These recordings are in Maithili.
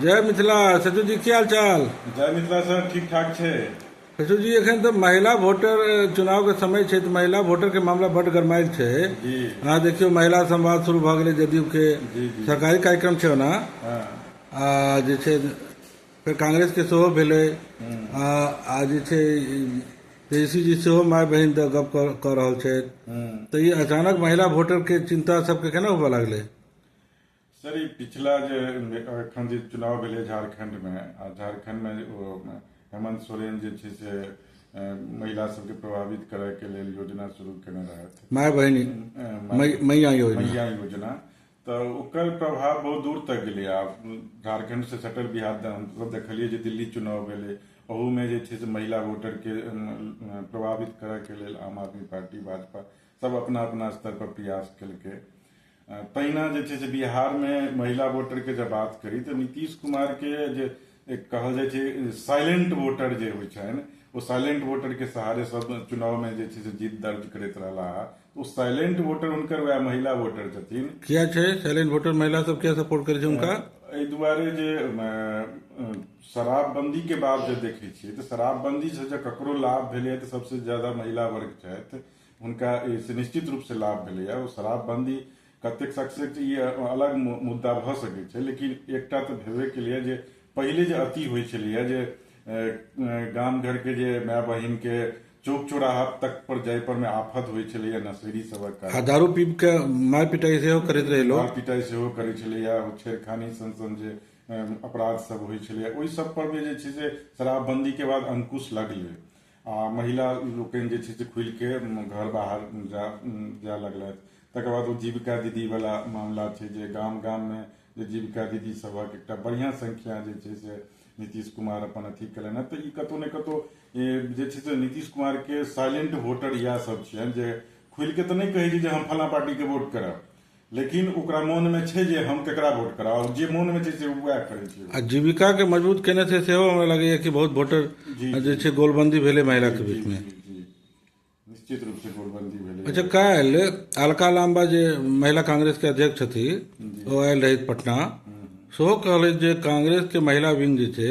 जय मिथिला सचू जी की हाल चाल जय मिथिला सर ठीक ठाक छै सचू जी एखन तऽ महिला वोटर चुनाव के समय छै तऽ महिला वोटर के मामला बड गरमायल छै जी अहाँ देखियौ महिला संवाद शुरू भऽ गेलै जदयू के जी, जी। सरकारी कार्यक्रम छै ओना हाँ, आ जे छै फेर कांग्रेस के सेहो भेलै आ आ जे छै तेजस्वी जी सेहो माय बहिन दऽ गप कऽ- कऽ रहल छथि हम्म। तऽ ई अचानक महिला वोटर के चिंता सबके केना होबऽ लागलै सर ई पिछला जे एखन जे चुनाव भेलै झारखंडमे आ झारखंडमे ओ हेमंत सोरेन जे छै से अ, महिला सबके प्रभावित करय के लेल योजना शुरू केने रहथि माय बहिनी अ, मै- मैया योजना मैया योजना तऽ ओकर प्रभाव बहुत दूर तक गेलै आब झारखंड से सटल बिहार तऽ हमसब देखलियै जे दिल्ली चुनाव भेलै ओहूमे जे छै से महिला वोटरके अम, प्रभावित करयके लेल आम आदमी पार्टी भाजपा सब अपना अपना स्तर पर प्रयास केलकै अ, तहिना जे छै से बिहार मे महिला वोटर के जब बात करी तऽ नीतीश कुमार के जे एक कहल जाइ छै साइलेंट वोटर जे होइ छनि ओ साइलेंट वोटर के सहारे सब चुनाव मे जे छै से जीत दर्ज करैत रहला ओ साइलेंट वोटर हुनकर वएह महिला वोटर छथिन किया छै साइलेंट वोटर महिला सब किया सपोर्ट करै छै हुनका एहि दुआरे जे अ, अ, शराबबंदी के बाद जे देखै छियै तऽ शराबबंदी से जे ककरो लाभ भेलै तऽ सबसे ज्यादा महिला वर्ग छथि हुनका एहिसँ निश्चित रूपसँ लाभ भेलैए ओ शराबबन्दी कतेक सक्सेस ई अलग मुद्दा भऽ सकै छै लेकिन एकटा तऽ भेबे केलैए जे पहिले जे अति होइ छलैए जे गाम घरके जे माय बहिनके चौक चौराहा तक पर जाय पर में आफत होइ छलैया नशेरी सबक कारण आ दारू पीब के मार पिटाई सेहो करैत रहे लोग मार पिटाई सेहो करै छलैया छेड़खानी सन सन जे अपराध सब होइ छलैया ओहि सब पर में जे छै से शराबबंदी के बाद अंकुश लगलै आ महिला लोकनि जे छै से खुलि के घर बाहर जा जाय लगलथि तकर बाद ओ जीविका दीदी वाला मामला छै जे गाम गाम मे जे जीविका दीदी सभक एकटा बढ़िया संख्या जे छै से नीतीश कुमार अपन अथी केलनि तऽ ई कतौ ने कतौ जे छै से नीतीश कुमार के साइलेंट वोटर इएह सब छियनि जे खुलि के तऽ नहि कहै छै जे हम फला पार्टी के वोट करब लेकिन ओकरा मोन मे छै जे हम केकरा वोट कराउ जे मोन मे छै से वएह करै छै आ जीविका के मजबूत केने छै सेहो हमरा लगैया कि बहुत वोटर जे छै गोलबंदी भेलै महिला के बीच में निश्चित रूप से गोलबंदी भेलै अच्छा काल्हि अलका लाम्बा जे महिला कांग्रेस के अध्यक्ष छथि ओ आयल रही पटना सेहो कहलथि जे कांग्रेस के महिला विंग जे छै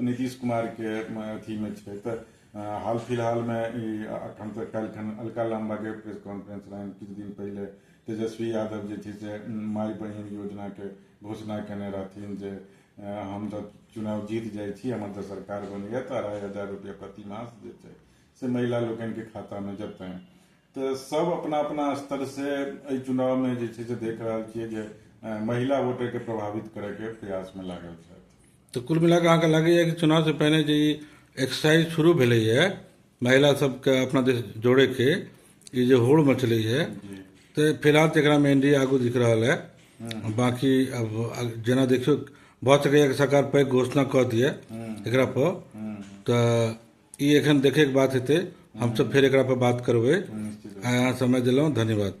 नीतीश कुमार के अथी में छै तऽ हाल फिलहाल में ई अखन तऽ काल्हि खन अलका लाम्बा के प्रेस कॉन्फ्रेंस रहनि किछु दिन पहिले तेजस्वी यादव जे छै से माय बहिन योजना के घोषणा केने रहथिन जे हम जब चुनाव जीत जाइ छी हमर जब सरकार बनैया तऽ अढ़ाई हजार रुपया प्रति मास जे छै से महिला लोकनि के खाता में जेतनि तऽ सब अपना अपना स्तर से एहि चुनाव में जे छै से देख रहल छियै जे महिला वोटर के प्रभावित करे के प्रयास में लागल छथि तऽ कुल मिला कऽ अहाँके लगैए कि चुनाव से पहिने जे ई एक्सरसाइज शुरू भेलैए महिला सबके अपना दिस जोड़ैके ई जे होड़ मचलैए तऽ फिलहाल तऽ एकरामे एन डी ए आगू दिख रहल है बाँकी अब अब जेना देखियौ भऽ सकैए कि सरकार पैघ घोषणा कऽ दिए एकरा पर तऽ ई एखन देखैके बात हेतै हमसभ फेर एकरा पर बात करबै आइ अहाँ समय देलहुँ धन्यवाद